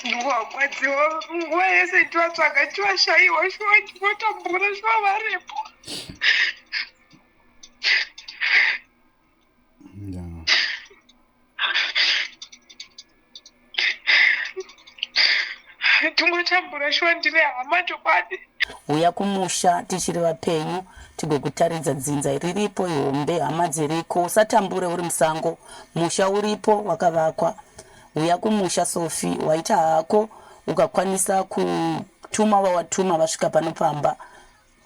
ndiwarwadziwa nguva yese tivatsvaga tivashaiwa shuwa ndivotambura shuwa varipo tingotambura shuwa ndine hama chokwadi Huya kumusha tichiri vapenyu tigokutaridza dzinza riripo ihombe hama dziriko usatambure uri musango musha uripo wakavakwa huya kumusha sofi waita hako ukakwanisa kutuma vawatuma vasvika pano pamba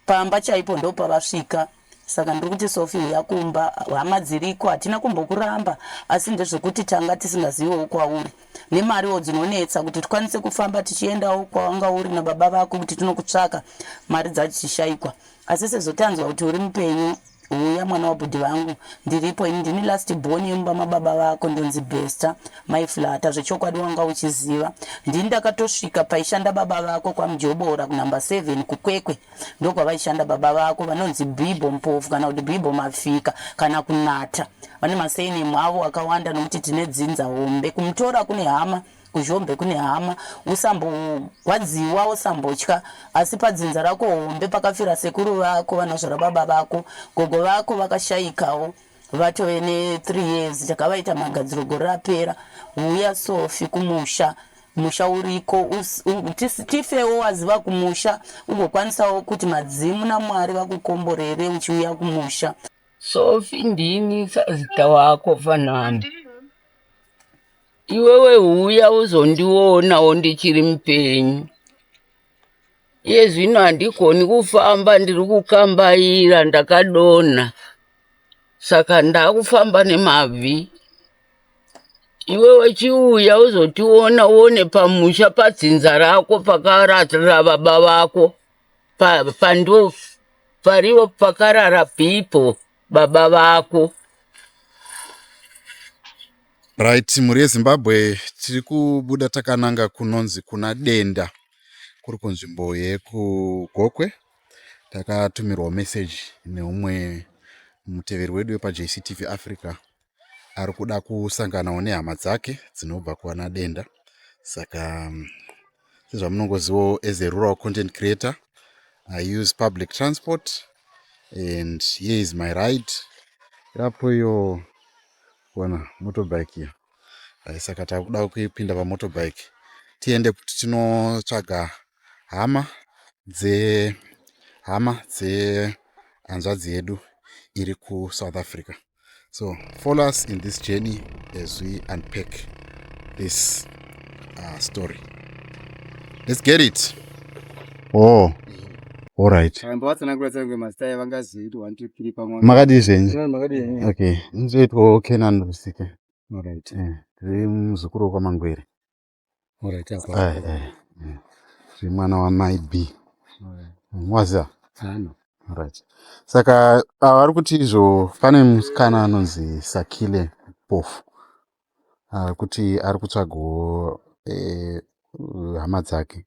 pamba chaipo ndopavasvika Saka ndiri kuti Sophie huya kumba hama dziriko hatina kumbokuramba asi ndezvekuti tanga tisingazivewo kwauri nemariwo dzinonetsa kuti tikwanise kufamba tichiendawo kwawanga uri nababa vako kuti tinokutsvaka mari dzachishaikwa asi sezotanzwa kuti uri mupenyu huya mwana wabhudhi vangu ndiripo ini ndini last born yemumba mababa vako ndonzi bester maiflata zvechokwadi wanga uchiziva ndini ndakatosvika paishanda baba vako kwamjobora kunumber 7 kukwekwe ndokwavaishanda baba vako vanonzi bible mpofu kana kuti bible mafika kana kunata vane maseinemu avo akawanda nokuti tine dzinza hombe kumutora kune hama kuzhombe kune hama usambogwadziwa usambotya asi padzinza rako hombe pakafira sekuru vako vanozvara baba vako gogo vako vakashaikawo vatove ne three years takavaita magadziro gore rapera huya sofi kumusha musha uriko us- u- tis- tifewo waziva kumusha ugokwanisawo kuti madzimu namwari vakukomborere uchiuya kumusha sofi ndini sazita wako fanani iwewe huya uzondionawo ndichiri mupenyu Iye zvino handigoni kufamba ndiri kukambaira ndakadonha saka ndakufamba nemabvi iwe wechiuya uzotiona uone pamusha padzinza rako pakararira baba vako pandiwo pariwo pakarara pipo pa baba vako right mhuri yezimbabwe tiri kubuda takananga kunonzi kuna denda kuri kunzvimbo yekugokwe takatumirwa meseji neumwe muteveri wedu wepajctv africa ari kuda kusanganawo nehama dzake dzinobva kuana denda saka mm, sezvamunongozivawo as a rural content creator i use public transport and here is my ride yapo iyo kuona motorbike iyo eh, saka takuda kuipinda pamotorbike tiende kuti tinotsvaga hama dze hama dze hanzvadzi yedu iri kusouth africa so follow us in this journey as we unpack this uh, story let's get it oh makadii zvenyu okay nzoitwawo kenan rusike tiri muzukuru wekwamangwere zviri mwana wamai b mwaziva right saka ava vari kuti izvo pane musikana anonzi sakile pofu ari kuti ari kutsvagawo eh, hama dzake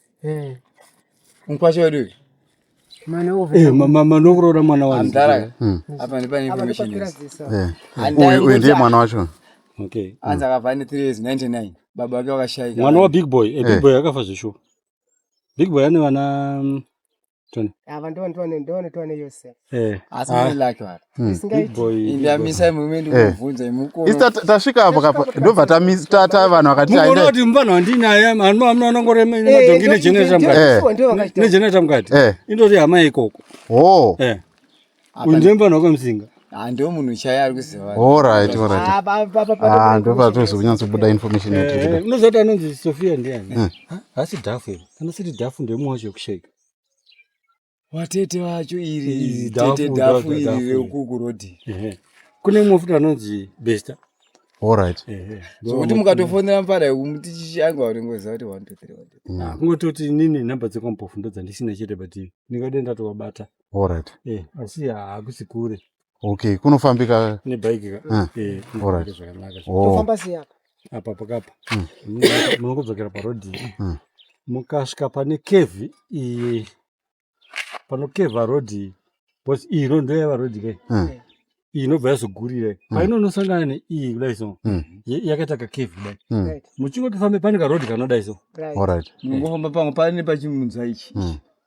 Eh. Mkwasha wedu. Mwana uve. Eh, mama manokurora mwana wangu. Amdara. Hmm. Apa ndipo ni information. Eh. Uyu uyu ndiye mwana wacho. Okay. Anza hmm. kavani 3 years 99. Baba wake wakashaika. Mwana wa big boy. Eh, big eh. boy akafa zvishupa. Big boy ane vana mm, ava ndovandotoane yose eh. asi ah. lake vara hmm. isingaitiindamisai mumwe ndikubvunza eh. imukoisa tasvika apo kapa ndobva tata vanhu vakatimuona kuti muvanhu wandinaye anoanongoremadhongi eh, negenerator mukati negenerator mukati indoti hama ikoko o oh. Uyu ndiye mfana wakamzinga. Ah, ndio munhu chaiye ari kuziva. All right, all right. Ah, ndio patozo kunyatso buda information eh, yake. Eh, Unozoti anonzi Sofia ndiani? Eh. Hasi dhafu iri. Kana siri dhafu ndiye mumwe wacho kushake. Watete wacho iri, tete dhafu iri rekuku rodi. Kune mumwe futi anonzi Besta. All right. So kuti mukatofonera mfana yekumuti chishanga wanengoziva kuti 1 2 3. Kungototi nini number dzekwampofu ndodzandisina chete but ndingade ndatowabata. Alright. Eh, asi hakusi kure. Okay, kunofambika nebike ka. Ah, eh, alright. Zvakanaka. Oh. Tofamba sei apa? Apa pakapa. Mm. Munongodzokera pa road. Mm. Mukasvika pane cave iyi pano cave road iyi. Boss iyi road ndeya va road kai. Mm. Eh. Iyi inobva yazogurira. Mm. Painonosangana ne iyi kudai so. Mm. Yakaita ka cave kudai. Mm. Right. Muchingotofamba pane ka road kanoda iso. Right. Alright. Mungofamba pamwe pane pachimunza ichi. Mm.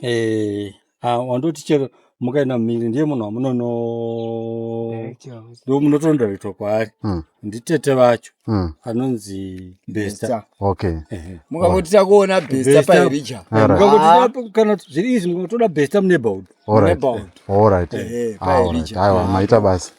eh ah wandoti chero mukaenda mumiri ndiye munhu wamunono ndo munotondoretwa kwaari mm. nditete vacho mm. anonzi besta okay eh. mukangoti takuona besta pairija mukangoti kana zviri izvi mukangotoda besta muneighborhood muneighborhood all right eh, eh, aiwa maita basa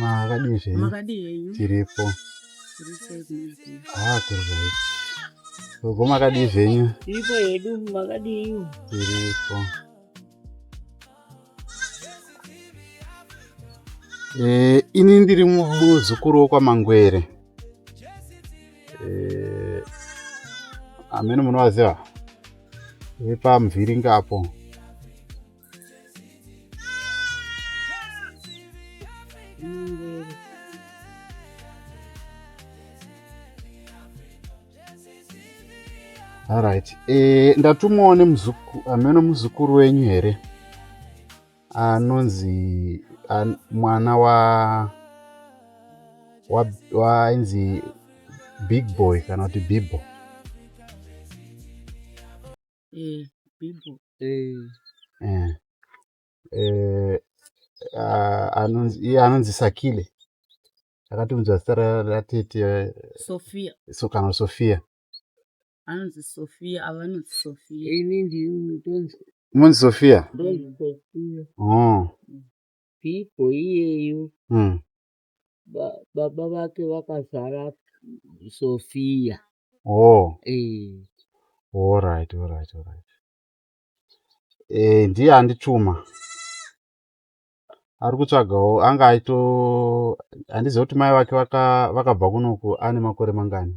makadii zvenyu tiripo haa kuri right gogo makadii zvenyu tiripo hedu makadii tiripo Eh, ini ndiri muzukuru wokwaMangwere. eh, amene munovaziva vepamuvhiringa apo Alright. E, ndatumwawo nemuzukuru ameno muzukuru wenyu here? anonzi an, mwana wa wainzi big boy kana kuti bibo eh, bibo eh. Eh. Eh, ah, anonzi iye anonzi sakile akatiunza zita ratete sofia so, kana sofia anonzi Sophia ava vanonzi Sophia ini ndini tonzi munzi Sophia ndonzi Sophia oh pipo iyeyu mm. ba, baba vake vakazara Sophia oh eh all right all right all right eh ndiye andituma ari kutsvagawo anga aito handiziva kuti mai vake vakabva kunoku ane makore mangani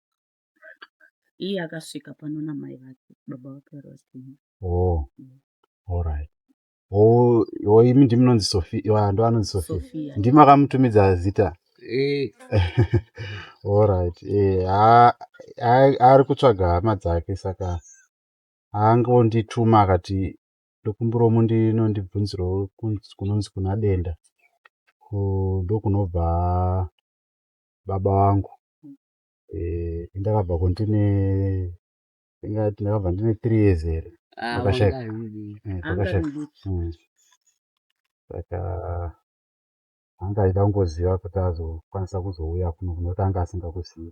Iye akasvika pano namai vake baba vake vari vachipinda. Oh. All right. Oh, oh imi ndimi munonzi Sophia. Wa ndo anonzi Sophia. Sophia. Ndimi akamutumidza zita. Eh, All right. Eh, ha- ha- ari kutsvaga hama dzake saka angondituma akati ndokumbira umu ndino ndibvunzirewo kunz- kunonzi kuna denda. Ku- Ndokunobva baba vangu. eh, ndakabva ko ndine ndingati ndakabva ndine three years here Ah, Pakashaya. wanga hwidii. Eh, Anga pakashaya. rinduti. Mm. saka anga aida kungoziva kuti azokwanisa kuzouya kuno kunoti anga asingakuzivi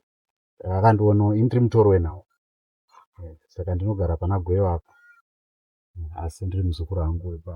saka akandiona indiri mutori wenawo Eh, saka ndinogara pana gweyo apa Mm, asi ndiri muzukuru wangu wepa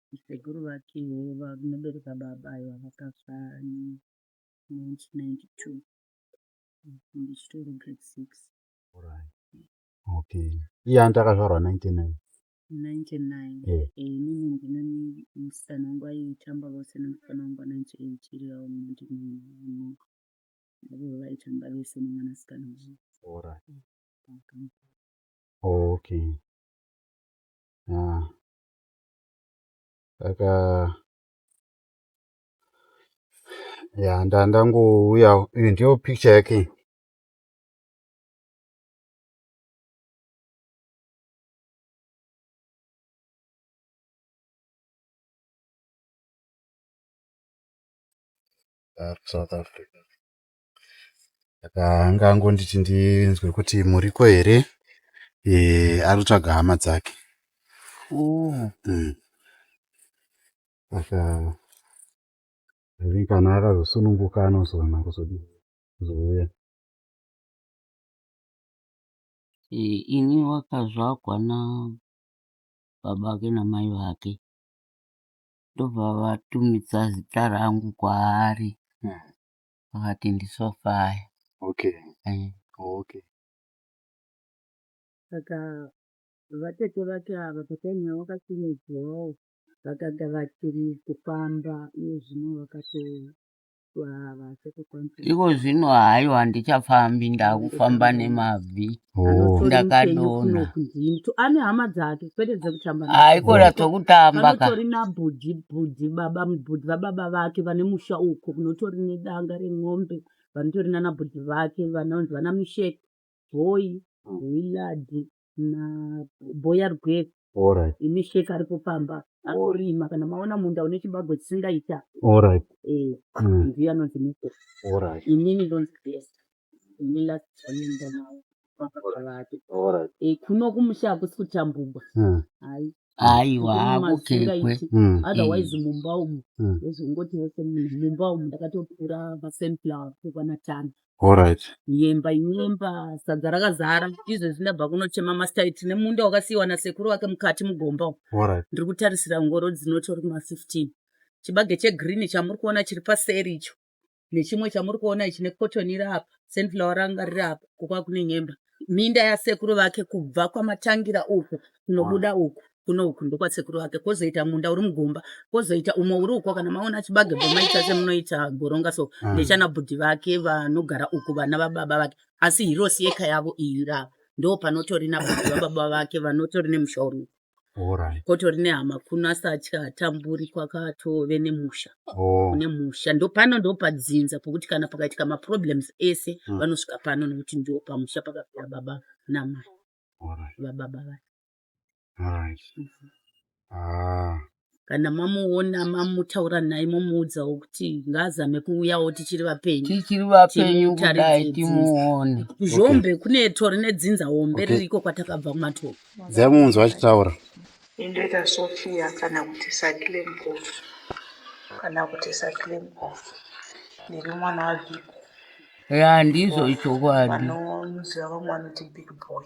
Sekuru vake vanobereka baba aiwa vakafa ne 1992 ndichitori grade six okay iye anti akazvarwa 99 99 eh. Eh, inini ndine musikana wangu aitamba vose nemusikana wangu anaiti eitiri yavo munoti avo vaitamba vese nemwanasikana wavo okay ah. Saka yaa ndandangouya iyi ndiyo picture yake iyi. South Africa. saka anga angonditi ndinzwe kuti muriko here eh, ari kutsvaga hama dzake Oh, Mm. saka I think kana akazosununguka anozoona kuzodi kuzouya Eh, ini wakazvagwa na baba vake namai vake ndobva vatumidza zita rangu kwaari vakati ndisofa aya okay eh. okay saka vatete vake ava patainha vakasimudzwawo vakaga vachiri kufamba iye zvino vakatoava sekukwanisa iko zvino haiwa handichafambi ndakufamba nemabvi Oh. Ndakadona. Mtu ane hama dzake kwete dzekutamba. Haikona dzokutamba ka. Panotori nabhudhi bhudhi baba bhudhi vababa vake vane musha uko kunotori nedanga remombe vanotori nana bhudhi vake vanonzi vana misheki boyi wiladi na boya rwese Alright. Imisheki aripo pamba anorima kana maona munda une chibagwe chisingaita. Alright. Eh. Mm. Ndiye anonzi misheki. Alright. Inini ndonzi best. kuno kumusha hakusi kuchambugwa aiwa hakukekwe mm. otherwise mm. mumba umu mm. ezvongoti vese mumba umu ndakatopura masunflower kukwanatano Alright. Yemba yemba sadza rakazara izvo zvindabva kunochema mastai tine munda wakasiiwa nasekuru wake mukati mugomba Alright. ndiri kutarisira ngoro dzinotori kuma 15 chibage chegreen chamuri kuona chiri paseri icho nechimwe chamuri kuona ichi nekotoni iri apa senflower ranga riri apa kukwa kune nyemba minda yasekuru vake kubva kwamatangira uku kunobuda uku kuno uku ndokwasekuru vake kwozoita munda uri mugomba kwozoita umwe uri uko kana maona chibage bhomaita semunoita goronga so mm. nechana bhudhi vake vanogara uku vana vababa vake asi hirosi yeka yavo iyi rava ndo panotori nabhudhi vababa vake vanotori nemusha uri uku Alright. kotori nehama kuno asi atya hatamburi kwakatove nemusha Oh. kune musha ndopano ndopadzinza pokuti kana pakaitika maproblems ese Mm. vanosvika pano nokuti ndo pamusha pakapera baba namai Alright. vababa vake Alright. Ah. kana mamuona mamutaura naye momuudzawo kuti ngaazame kuuyawo tichiri vapenyu tichiri vapenyu kudai timuone kuzhombe okay. kune tori nedzinza hombe okay. ririko kwatakabva kumatoko dzamunzwa achitaura indoita sofia kana kuti sakilembof kana kuti sakilembof ndiri mwana wabhiku ya ndizvo ichokwadi vanoziva vamwe vanoti big boy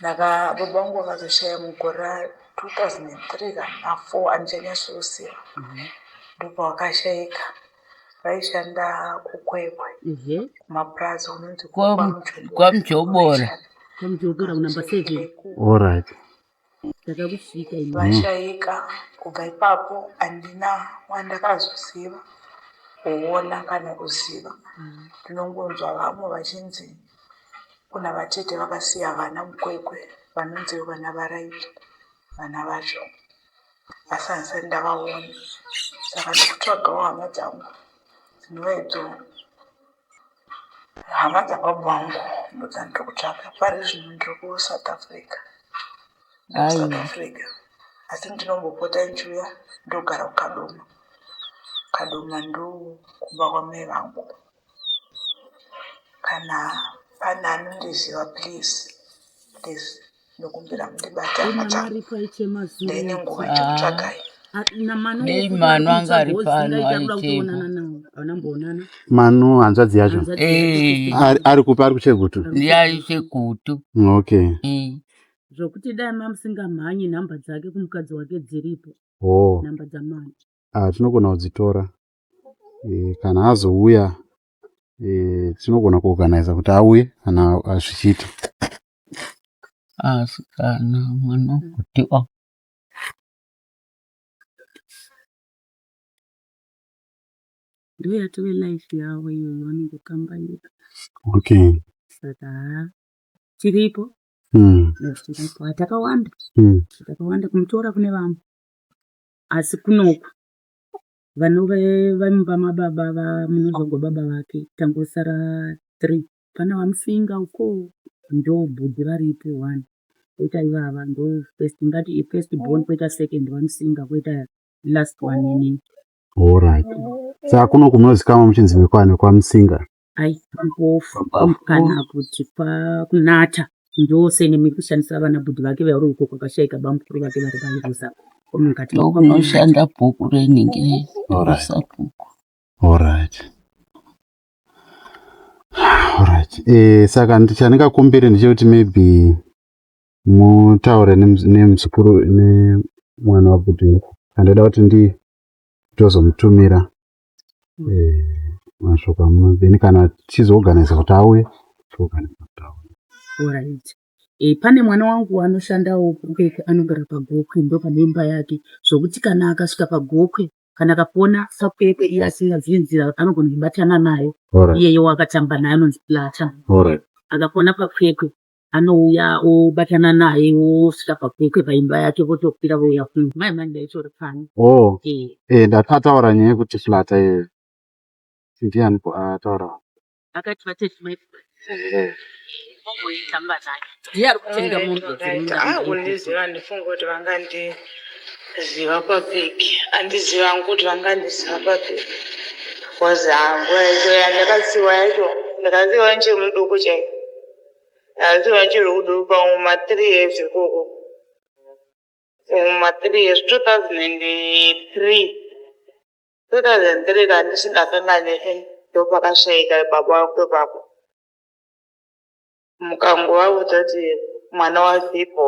Ndaka baba vangu vakazoshaya mugore ra 2003 kana na 4 handichanyatsoziva. Ndopavakashaika. Vaishanda kuKwekwe Mhm. kumapurazi kunonzi Kwa- kwaMujobora. kwamujobora kunamba seven Alright. ndakakusvika ini vashaika kubva ipapo handina wandakazoziva kuona kana kuziva ndinongonzwa vamwe vachinzi kuna vatete vakasiya vana mukwekwe vanonzi vana varaiti vana vacho asi handisati ndavaona saka ndikutsvagawo hama dzangu dzinova idzo hama dzababa vangu ndodzandiri kutsvaka pari zvino ndiri kusouth africa south africa asi ndinombopota ndichiuya ndogara kukadoma kadoma ndo kumba kwamai vangu kana pane anondiziva please please ndokumbira mundibate hama changu ndaine nguva ichikutsvagai dei manu anga ari pano aitema manu hanzvadzi yacho ari kupa ari kuchegutu ndiye ari chegutu okay zvokuti dai mamusingamhanyi nhamba dzake kumukadzi wake dziripo oh. nhamba dzamani ah, tinogona kudzitora e, kana azouya e, tinogona kuorganiza kuti auye kana zvichiita Asikana mwana kuti o ndouya life yavo iyoyo vanongokambaira okay saka haa chiripo hmm. chiripo hatakawanda hmm. hatakawanda kumutora kune vamwe asi kunoku vanove vamumba mababa vamunozogwa baba vake tangosara three Kana vamusinga ukoo ndoo bhudhi varipo wani koita ivava ndoo first tingati ifirst born koita second vamusinga koita last one ini. Horaiti saka kuno kunozikamwa muchinzi nekwa nekwamusinga. Ayi mpofu kana kuti kwakunata ndoo sene muri kushandisa vana bhudhi vake vauri uko kwakashaika bamukuru vake vari vairusa komukati Ndokunoshanda bhuku renhingi Horaiti. rerusakuku. Horaiti. Alright. Eh, saka ndi- chandingakumbire ndechekuti maybe mutaure nemuz- nemuzukuru nemwana wabudu iko handida kuti ndi tozomutumira eh, mashoko amuno then kana tichizoorganiza kuti auye toorganiza kuti auye Alright. E, pane mwana wangu anoshandawo kukeke anogara pagokwe ndo pane imba yake zvokuti kana akasvika pagokwe kana akakuona fakwekwe iye asingazivi nzira anogona kubatana nayo iyeye wakatamba naye anonzi plata akakuona pakwekwe anouya obatana naye wosvika pakwekwe paimba yake votokwira vouya kuno mai mani ndaitori pano oh. e, ndataura nyaya yekuti plata iyoyo ndiani ataura akati vatete mai omboitamba naye ndiye ari kutenga mombe akundiziva ndifunga kuti vangandiziva papiki andiziva hangu kuti vangandiziva papiki bcause hangu yacho yandakasiwa yacho ndakasiwa ndichiri muduku chai ndakasiwa ndichiri kuduku pamwe mathree years ikoko mathree years two thousand and three Ndakazenzerera ndisingakanganwe eeh ndopakashaika baba vako ipapo. Mukangovaudza kuti mwana waBhippo,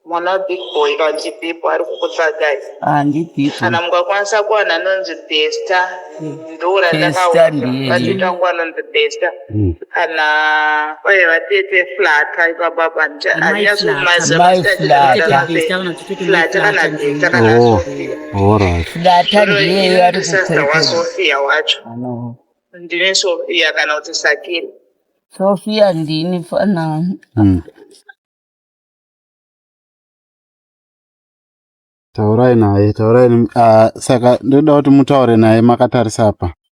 mwana waBig Boy kana kuti Bhippo ari kukutsvagai. Ah ndiBhippo. Kana mukakwanisa kuwana anonzi Bester ndoo randakaona. Bester ndiye. Bajeti wangu anonzi Bester. Hmm. kana kwai vatete flata ipapapa ndiyasofia wacho ndine sofia kana kuti sakiri sofia ndini fana hmm. taurai naye taurai ah, saka ndoda kuti mutaure naye makatarisa apa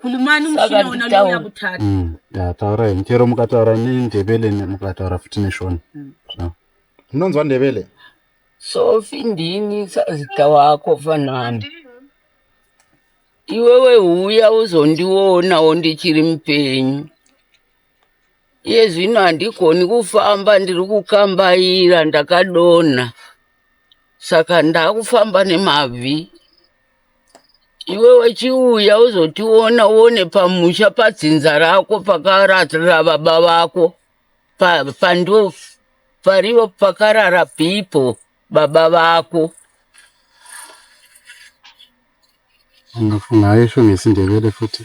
Kulumani mushina wona uya kutatu. Mm. Ya taura in chero mukataura ni ndebele ni mukataura futi ni shona. Mm. So. Unonzwa ndebele? So findini sazita wako fanani. Iwewe uya uzondiona ondichiri mpenyu. Iye zvino handikoni kufamba ndiri kukambaira ndakadona. Saka ndakufamba nemabvi. iwe wachiuya uzotiona uone pamusha padzinza rako pakarara baba vako pandu parivo pakarara pipo baba vako angafunga aisho nesindevele futi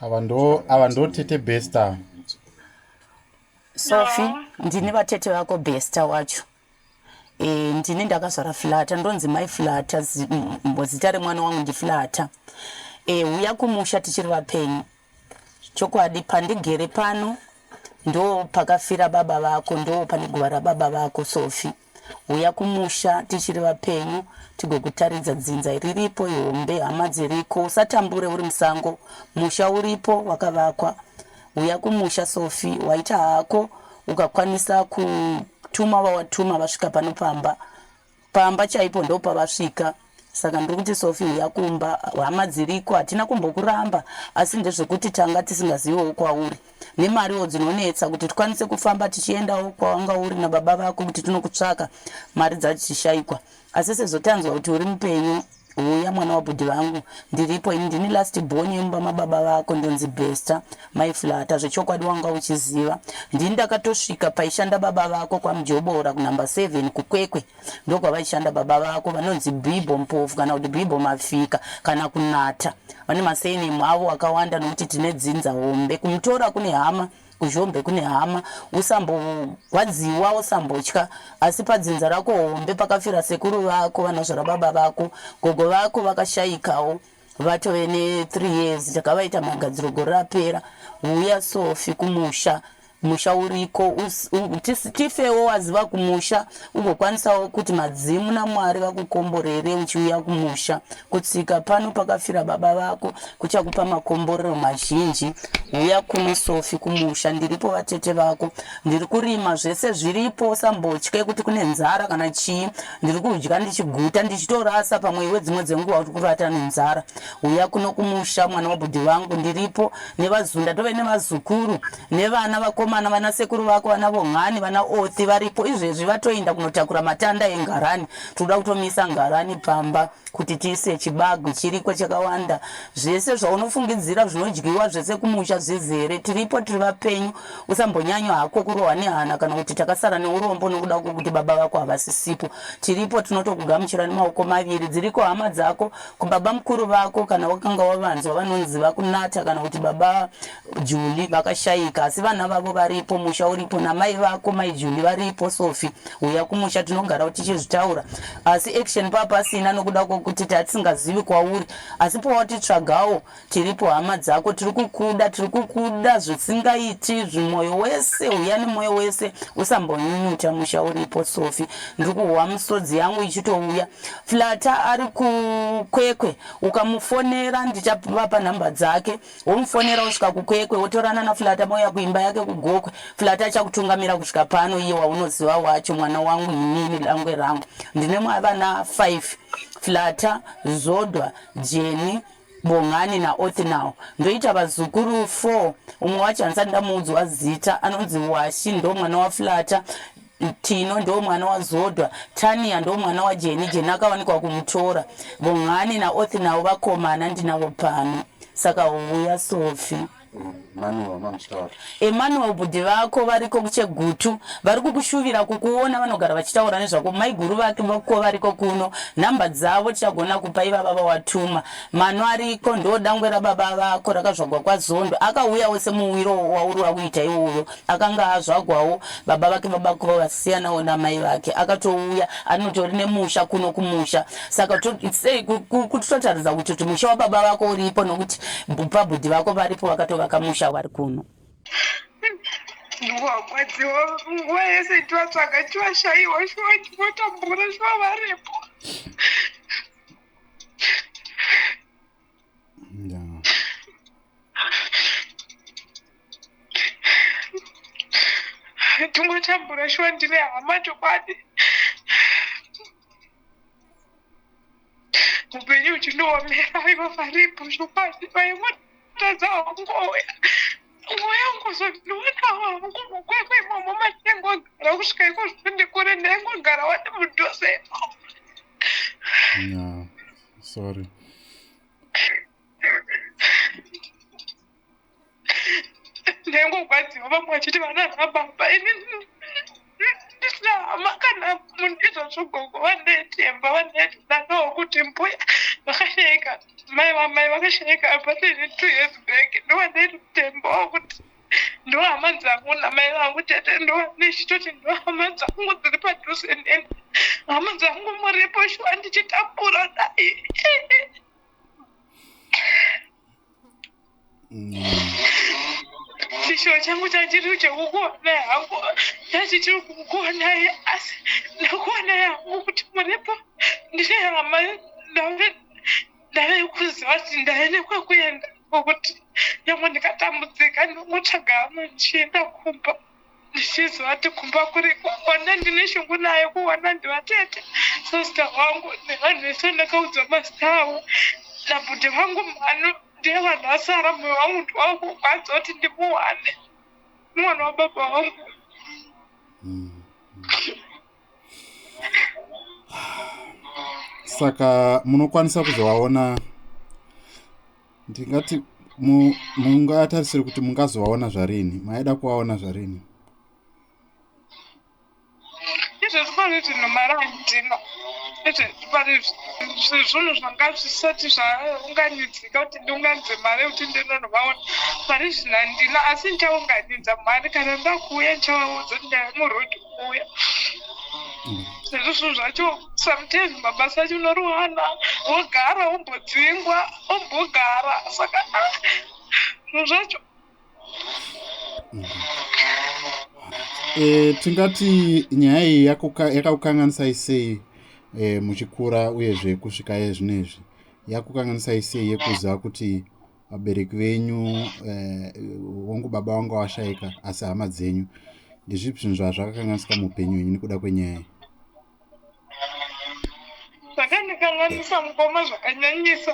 ava ndo ava ndo tete besta sofi ndini vatete vako besta wacho e, ndini ndakazvara flata ndonzi mai flata zita remwana wangu ndiflata e, eh, uya kumusha tichiri vapenyu Chokwadi pandigere pano ndo pakafira baba vako ndo pane guva rababa vako Sofi. Huya kumusha tichiri vapenyu tigokutaridza dzinza riripo ihombe hama dziriko usatambure uri musango musha uripo wakavakwa. Huya kumusha Sofi waita hako ukakwanisa kutuma vawatuma vasvika pano pamba Pamba chaipo ndopavasvika saka ndiri kuti sofi huya kumba hama dziriko hatina kumbokuramba asi ndezvekuti tanga tisingazivewo kwauri nemariwo dzinonetsa kuti tikwanise kufamba tichiendawo kwawanga uri nababa vako kuti tinokutsvaka mari dzatichishaikwa asi sezvo tanzwa kuti uri mupenyu Huya mwana wabhudhi vangu ndiripo ini ndini last born yemumba mababa vako ndonzi Bester mai Flata zvechokwadi wanga uchiziva ndini ndakatosvika paishanda baba vako kwaMjobora kunumber seven kuKwekwe ndokwavaishanda baba vako vanonzi Bibho Mpofu kana kuti Bibho Mafika kana kunata vane masurname avo akawanda nokuti tine dzinza hombe kumutora kune hama Kuzhombe kune hama, usambogwadziwa, usambotya, asi padzinza rako hombe pakafira sekuru vako vanozvara baba vako, gogo vako vakashaikawo vatove ne 3 years takavaita magadziro gore rapera, huya Sofi kumusha musha uriko us, u, tis, tifewo waziva kumusha. ugokwanisawo kuti madzimu namwari vakukomborere uchiuya kumusha kutsika pano pakafira baba vako kuchakupa makomborero mazhinji uya kuno sofi kumusha ndiripo vatete vako ndiri kurima zvese zviripo usambotye kuti kune nzara kana chii ndiri kudya ndichiguta ndichitorasa pamwe iwe dzimwe dzenguva uri kuvata nenzara uya kuno kumusha mwana wabhudhi vangu ndiripo nevazunda tove nevazukuru nevana vakomana vana sekuru vako vana vomhani vana othi varipo izvezvi vatoenda kunotakura matanda engarani tinoda kutomisa ngarani pamba kuti tiise chibagu chiriko chakawanda zvese zvaunofungidzira zvinodyiwa zvese kumusha zvizere tiripo tiri vapenyu usambonyanyo hako kurohwa nehana kana kuti takasara neurombo nokuda kwekuti baba vako havasisipo tiripo tinotokugamuchira nemaoko maviri dziriko hama dzako kubaba mukuru vako kana wakanga wavanzwa vanonzi vakunata kana kuti baba Juli vakashaika asi vana vavo varipo, musha uripo namai vako mai Juli varipo. Sofi, huya kumusha tinogarawo tichizvitaura asi action pava pasina nokuda kwokuti tava tisingazivi kwauri asi pawatitsvagawo tiripo hama dzako tiri kukuda tiri kukuda zvisingaiti zvimwoyo wese huya nemwoyo wese usambonyunyuta musha uripo. Sofi, ndiri kuhwa misodzi yangu ichitouya. Flata ari kukwekwe ukamufonera ndichavapa nhamba dzake womufonera wosvika kukwekwe wotorana naflata mouya kuimba yake kugokwe flata achakutungamira kusvika pano iye waunoziva wacho mwana wangu inini dangwe rangu ndine vana 5 flata zodwa jeni bongani naothnow ndoita vazukuru 4 umwe wacho hansati ndamuudzwa zita anonzi washi ndo mwana waflata Tino ndo mwana wa Zodwa, Tania ndo mwana wa Jeni, Jeni akawanikwa ku Mutora, Bongani na Othi navo vakomana ndinavo pano saka huya Sofi. Emmanuel bhudhi vako variko kuchegutu vari kukushuvira kukuona vanogara vachitaura nezvako maiguru vake vako variko kuno nhamba dzavo tichagona kupa ivava vawatuma mano ariko ndo dangwe rababa vako rakazvagwa kwazondo akauyawo semuwiro wauri wakuita iwoyo Akanga azvagwawo baba vake baba kuva vasiyanawo namai vake akatouya anotori nemusha kuno kumusha saka sei kuti totaridza kuti kuti musha wababa vako uripo nokuti pabhudhi vako varipo vakatovaka musha wari kuno ndiwarwadziwa nguva yese ndivatsvaga ndivashaiwa shuwa ndivotambura shuwa varipo tungotambura shuwa ndine hama chokwadi upenyu uchindiomera ivo varipo zvokwadi vaimotadza wangu oya mweya ungozondiona wangu mukwekwe imomo matinengogara kusvika iko zvondikure ndaingogara wati mudhose imomo sorry ndengogwadziwa vamwe vachiti vana rababa ini ndisina hama kana mundizo zvogogo vandetemba vandedanoo kuti mbuya vakashaika mai vamai vakashaika abatene two years back ndovandetembawo kuti ndohama dzangu namai vangu tete ndoanechitoti ndohama dzangu dziri padhuze neni hama dzangu muripo shuwa ndichitambura dai chishuwa changu chachiri chekukuonai hangu chachichiri kukuonai asi ndakuonai hangu kuti muripo ndine hama ndave kuziva kuti ndave nekwekuenda kwekuti nyangwe ndikatambudzika ndinotsvaga amwe ndichienda kumba ndichiziva kuti kumba kuri kwakwanda ndine shungu nayo kuwana ndivatete sista wangu nevanhu vese ndakaudza masita avo nabhuti vangu mhano ndiye vanhu vasara moyo wangu ndiwava kurwadza kuti ndimuwane mwana wababa wangu hmm. saka munokwanisa kuzovaona ndingati mungatarisire kuti mungazovaona zvarini maida kuvaona zvarini zvinhu zvanga zvisati zvaunganidzika kuti ndiunganidze mari yekuti ndinonovaona pari zvinhandina asi ndichaunganidza mari kana ndakuuya ndichavaudza kuti ndaimurodo kuuya zvinhu zvacho sometimes mabasa acho unoruhana wogara wombodzingwa wombogara saka ah, zvinhu zvacho e, tingati nyaya iyi yakakukanganisai sei e, muchikura uyezve kusvika yezvino izvi yakukanganisai sei yekuziva kuti vabereki venyu eh, wangu eh, baba vanga vashaika asi hama dzenyu ndezvipi zvinhu zvazvakakanganisika muupenyu wenyu nekuda kwenyaya zvakandikanganisa mukoma zvakanyanyisa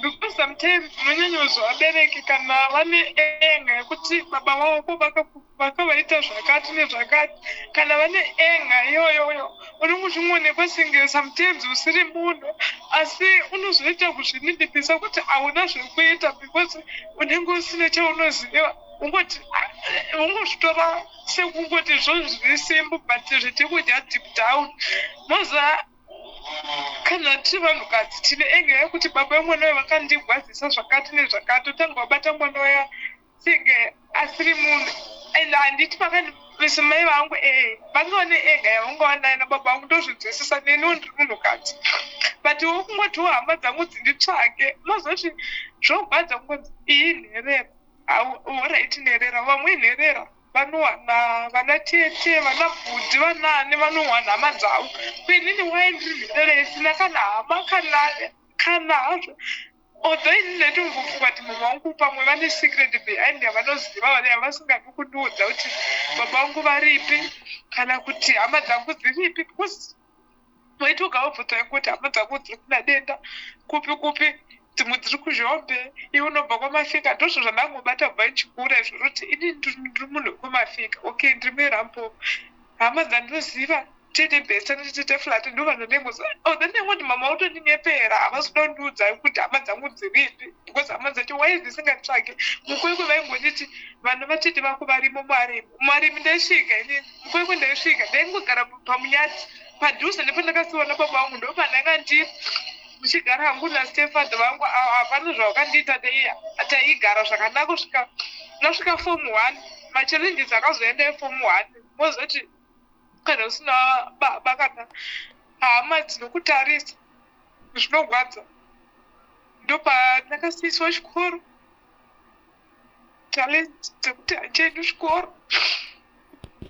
because sometimes unonyanyozwa vabereki kana vane enga yekuti baba vavo ko vakaku vakavaita zvakati nezvakati kana vane enga iyoyoyo unenge uchingonekwa senge sometimes usiri munhu asi unozoita kuzvinidipisa kuti hauna zvekuita because unenge usine chaunoziva ungoti ah, ungozvitora sekungoti zvo zviri simbu but zviti kudya deep down moza kana tiri vanhukadzi tine enga yekuti baba vemwana vayo vakandigwadzisa zvakati nezvakati otanga wabata mwana waya senge asiri munhu and handiti pakandiisa mai vangu ee eh, vange vane ega yavanga vanayo nababa vangu ndozvinzwisisa neniwo ndiri munhukadzi but wo kungotiwo hama dzangu dzinditsvake unozoti zvogwadza kungonzi iyi nherera horaiti nherera vamwe nherera vanowana vana tete vana bhudhi vanaani vanowana hama dzavo kuinini waye ndiri nherera isina kana hama kana kana hazvo Although ini ndaitombopfuka kuti mama vangu pamwe vane secret behind yavanoziva vane yavasingadi kundiudza kuti baba vangu varipi kana kuti hama dzangu dziripi because waitoga wabvunza yangu kuti hama dzangu dziri kuna denda kupi kupi dzimwe dziri kuzhombe iwe unobva kwamafika ndozvo zvandangobata bva ndichikura izvozvo kuti ini ndiri munhu wekumafika okay ndiri muerambo Hama dzandoziva tete best anoti tete flat ndovanonengoza oh, then they want mama utondinyepera havasi kuda kundiudza kuti hama dzangu dziripi because hama dzacho why dzisingatsvage mukwekwe vaingonditi vana vatete vako varimo muarimi muarimi ndaisvika ini mukwekwe ndaisvika ndaingogara pamunyati padhuze nepandakasiwana baba vangu ndopandanga ndiri ndichigara hangu nastefad vangu havana zvavakandiita deiya taigara zvakanaka kusvika ndasvika fom one machallenges akazoenda efom one mozoti kana usina baba kana hama dzinokutarisa zvinogwadza ndopanakasiiswa chikoro talent dzekuti hachendi chikoro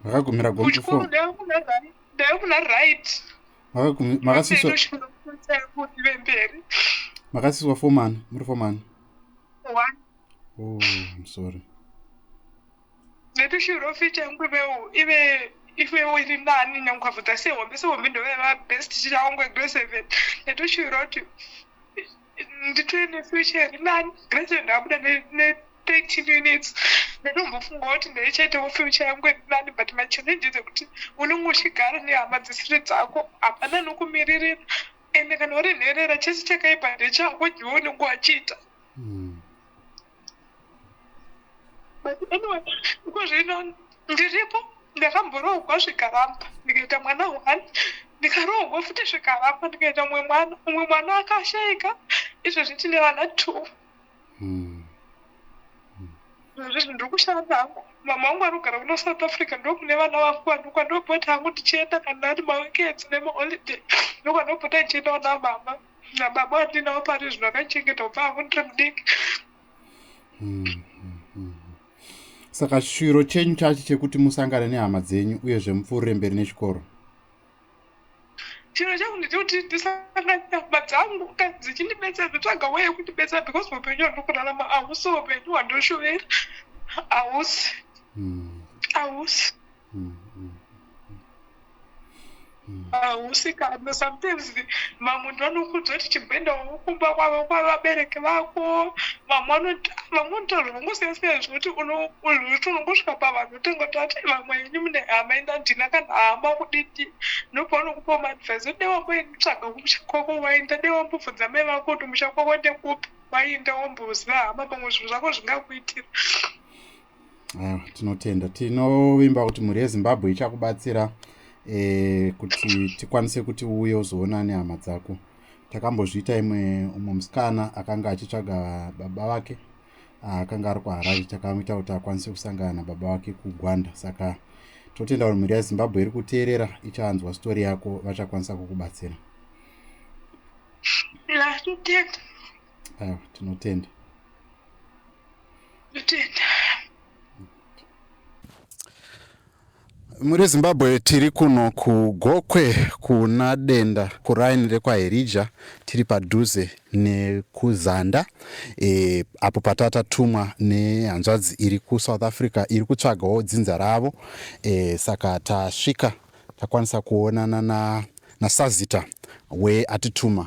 vakagumira gomuchikoro ndave kuna right makasiiswaive mberi makasiiswa fomani muri fomani one oh, i'm sorry Maybe she will fit and we will even if we were in nani nyankwavuta sehombe sehombe ndove vabest chirangwe grade seven neto she wrote nditore nefuture iri nani grade seven ndabuda ne-thirteen units ndotombofunga kuti ndaichaitawo future yangu iri nani but machallenges ekuti unenge uchigara nehama dzisiri dzako hapana nokumiririra ende kana uri nherera chese chakaipa ndechako jiwo unenge wachiita mm. but anyway iko zvino ndiripo ndakamboroogwa zvikaramba ndikaita mwana one ndikaroogwa futi zvikaramba ndikaita umwe mwana umwe mwana akashaika izvezvi tine vana two hmm. hmm. zvezvi ndiri kushanda hangu mama wangu anogara kuno south africa ndokune vana vangu vanhu kwandokuita hangu ndichienda kana ari maweekends nemaholidey ndokwandokuita ndichienda kuna mama nababa wandinawo pari zvino akachengeta kubva hangu ndiri mudiki hmm, hmm, hmm. saka shwiro chenyu chacho chekuti musangane nehama dzenyu uyezve mupfuurire mberi nechikoro chiro changu ndechekuti ndisangane nehama dzangu ka dzichindibetsera ndotsvaga weye kundibetsera because upenyu hwandokurarama ahusi upenyu hwandoshovera ahusi ahusi hausikana ah, sometimes mamwe ndo anokuudza kuti chimboendawo kumba kwavo kwavabereki vako vamwe vanotaura vangosiyasiyana zvekuti unokuti unongosvika pavanhu utenga kuti ati vamwe ini mune hama ina ndina kana hama kudidi nobva unokupa maadvise ode wambotsvaga kumusha kwako waenda de wambobvunza mai vako kuti musha kwako ndekupi waenda wamboziva hama pamwe zvinhu zvako zvingakuitira Eh, tinotenda tinovimba kuti mhuri yezimbabwe ichakubatsira eh, kuti tikwanise kuti uye uzoona nehama dzako takambozviita imwe umwe musikana akanga achitsvaga baba vake ah, akanga ari kuharare takamuita kuti akwanise kusangana nababa vake kugwanda saka totenda kuti mhuri yezimbabwe iri kuteerera ichanzwa sitori yako vachakwanisa kukubatsira aiwa tinotenda tinotenda muri zimbabwe tiri kuno kugokwe kuna denda kuraini rekwaherija tiri padhuze nekuzanda e, apo patatatumwa nehanzvadzi iri kusouth africa iri kutsvagawo dzinza ravo e, saka tasvika takwanisa kuonana nasazita na weatituma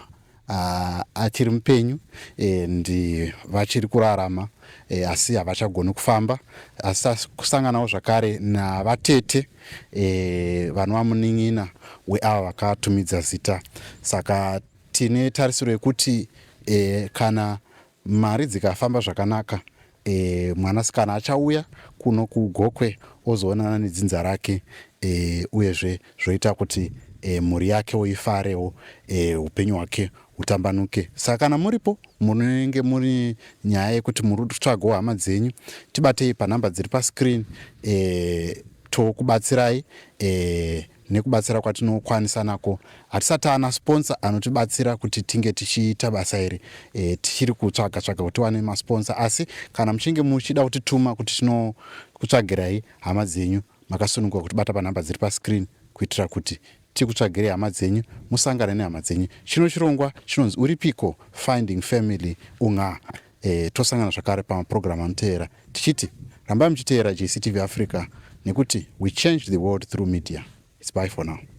uh, achiri mupenyu and eh, vachiri kurarama eh, asi havachagoni kufamba asi kusanganawo zvakare navatete eh, vanova munin'ina weava vakatumidza zita saka tine tarisiro yekuti eh, kana Mari dzikafamba zvakanaka eh, mwanasikana achauya kuno kuGokwe ozoonana nedzinza rake eh, uyezve zvoita kuti eh, mhuri yakewo ifarewo eh, upenyu hwake hutambanuke. Saka kana muripo munenge muri nyaya yekuti muri kutsvagawo hama dzenyu, tibatei panhamba dziri pascreen eh, tokubatsirai eh, Nekubatsira kwatinokwanisa nako, hatisati taana sponsor anotibatsira kuti tinge tichiita basa iri. E, tichiri kutsvaga tsvaga kuti tiwane masponsor asi kana muchinge muchida kutituma kuti tinokutsvagirai hama dzenyu makasununguka kuti bata panhamba dziri pascreen kuitira kuti tikutsvagirei hama dzenyu musangane nehama dzenyu. Chino chirongwa chinonzi Uripiko Finding Family Unga. E, tosangana zvakare pamapurogiramu anoteera tichiti rambai muchiteera JCTV Africa nekuti we change the world through media. It's bye for now.